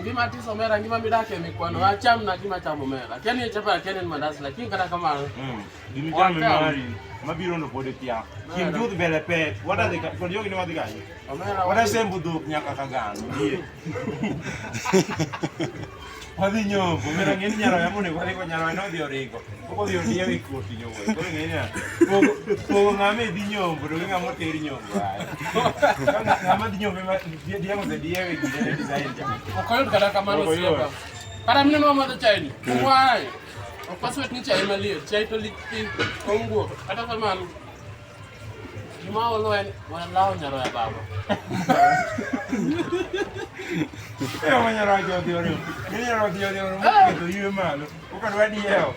Ngima tiso mera ngima midake mikwano mm. acham na gima chamo mera. Keni e chapa keni ni mandas lakini kata kama mm. Gimi chame mari mabiro ndo pode kia. Kim jud bele pe. What are they for yogi ni wadhi gani? Omera. What are sembu duk nyaka kagan. Ndiye. Wadhi nyoko. Mera ngeni nyaro yamune kwa liko nyaro eno dhi origo. Okodhi odiyo gi koti nyogo. Koro ng'e niya, pogo- pogo ng'ama e dhi nyombo to gi ng'ama oter nyombo. Ay. Ka ng'a- Ng'ama dhi nyombo ema die- diemo ose diye e gine ne design cha. Ok oyud kata kamano Ok oyud. osiepa. Kata mine ma madho chai ni. Why? Ok waswet ni chai maliet. Chai to lit piny. Onguo. Kata kamano. Juma waloen wanalawo nyaroya baba. Eyo manyalo wacho odhi oriwo. Manyalo odhi oriwo moketo ywe malo. Okad wadi ewo.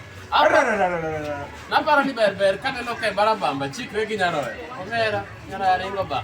Naparo ni ber ber ka neno ka ibara bamba chikre gi nyaroya. Omera nyaroya ringo ba.